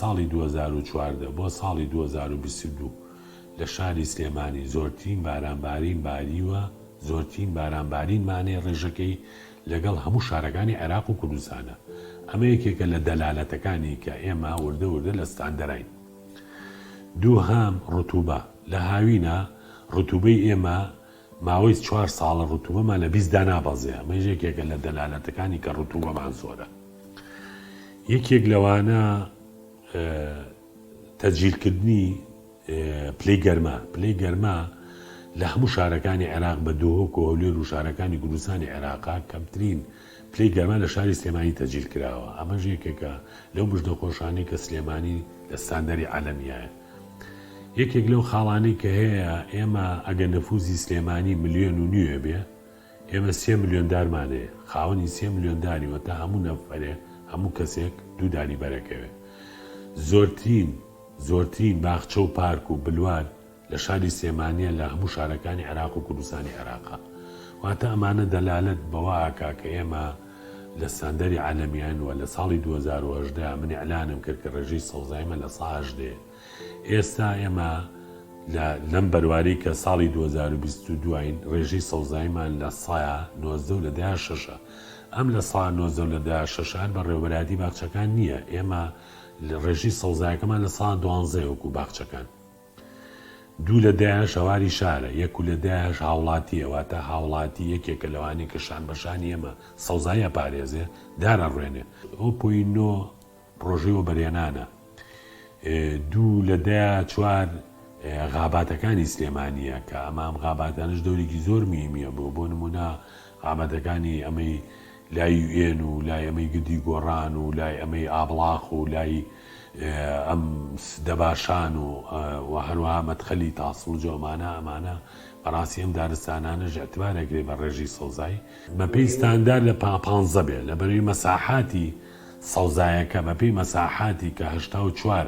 ساڵی دوو هەزار و چواردە بۆ ساڵی دوو هەزار و بیست و دوو لە شاری سلێمانی زۆرترین بارانبارین باریوە، زۆرترین بارانبارین مانەی ڕێژەکەی لەگەڵ هەموو شارەکانی عێراق و کوردستانە، ئەمە یەکێکە لە دەلالەتەکانی کە ئێمە وردە وردە لە ستاندەراین. دووهەم، ڕتوبە، لە هاوینە ڕتوبەی ئێمە ماوەی چوار ساڵە رتوبەمان لە بیست دانابەزێ، ئەمەیش یەکێکە لە دەلالەتەکانی کە رتوبەمان زۆرە. یەکێک لەوانە تەجیلکردنی پلەی گەرما، پلەی گەرما لە هەموو شارەکانی عێراق بە دهۆک و هەولێر و شارەکانی کوردستانی عێراقا کەمترین پلەی گەرما لە شاری سلێمانی تەجیل کراوە، ئەمەش یەکێکە لەو بژ نەخۆشانەی کە سلێمانی لە ستاندەری عالەمیایە. یەکێک لەو خاڵانەی کە هەیە ئێمە ئەگەر نەفوزی سلێمانی ملیۆن و نیوێ بێ ئێمە سێ ملیۆن دارمانەیە خاوەنی سێ ملیۆن داری وە تا هەموو نەفەرێ هەموو کەسێک دوو داری بەرەکەوێ زۆرترین زۆرترین باخچە و پارک و بلوار لە شاری سێمانە لە هەموو شارەکانی عراق و کوردستانی عراقا واتە ئەمانە دەلالت بەوە ئاکا کە ئێمە لە ستاندەری عالەمیان وە لە ساڵی دوو هەزار و هەژدە من اعلانم کرد کە ڕێژەی سەوزایی مە لە سە هەژدەیە ئێستا ئێمە لە لەم بەرواری کە ساڵی دوو هەزار و بیست و دواین ڕێژەی سەوزاییمان لە سە نۆزدە و لە دە شەشە ئەم لە سە نۆزدە و لە دە شەشە هەر بە ڕێوەبەرایەتی باخچەکان نییە ئێمە ڕێژەی سەوزایەکەمان لە سە دوانزەیە وەکوو باخچەکان دوو لە دەیان شەواری شارە، یەک و لە دەیانش هاوڵاتییە، واتە هاوڵاتی یەکێکە لەوانەی کە شان بە شانی ئێمە سەوزایی ئەپارێزێ، دار ئەڕوێنێ. ئەو پۆی نۆ پڕۆژەی وەبەرهێنانە. دوو لە دەیا چوار غاباتەکانی سلێمانییە، کە ئەمام غاباتانەش دەورێکی زۆر موهیمییە بۆ، بۆ نموونە ئامادەکانی ئەمەی لای یو ئێن و لای ئەمەی گردی گۆڕان و لای ئەمەی ئابڵاق و لای ئەم دەباشان و و هەروەها مەدخەلی تاسڵج و ئەمانە ئەمانە بەڕاستی ئەم دارستانانەش ئیعتبار ئەکرێ بە ڕێژی سەوزای بەپێی ستاندار لە پا پانزە بێ لەبەرەی مەساحاتی سەوزایەکە بەپێی مەساحاتی کە هەشتا و چوار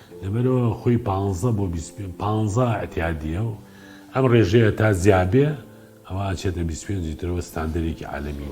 لەبەرئەوە خۆی پانزە بۆ بیست پێنج پانزە ئیعتیادییە و ئەم رێژەیە تا زیاد بێ ئەوا ئەچێتە بیست پێنج ی ترەوە ستاندەرێکی عالەمی.